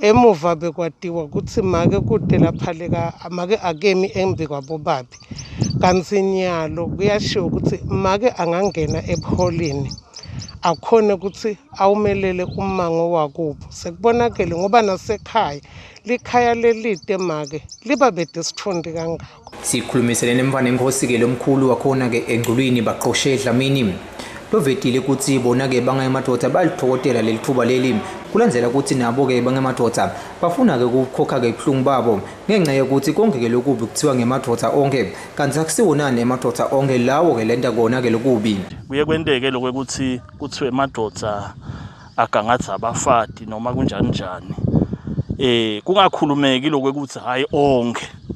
Emuva bekwatiwa ukuthi make kute laphaleka make akemi embi kwabobabi. Kanti nyalo kuyashiwo ukuthi make angangena ebuholini akhone ukuthi awumelele ummango wakubo. Sekubonakele ngoba nasekhaya likhaya lelide make liba bedesithondi kangaka. sikhulumiselene mfana enkosi-ke lo mkhulu wakhona-ke engculwini baqoshe edlamini lovetile ukuthi bona-ke bangayemadoda bayalithokotela leli thuba leli kulandela ukuthi nabo-ke bangemadoda bafuna-ke ukukhokha-ke ubuhlungu babo ngenxa yokuthi konke-ke lokubi kuthiwa ngemadoda onke kanti akusiwonani emadoda onke lawo-ke lenta kona-ke lokubi kuye kwenteke lokho ukuthi kuthiwe emadoda agangatha abafati noma kunjani njani um kungakhulumeki lokho ukuthi hhayi onke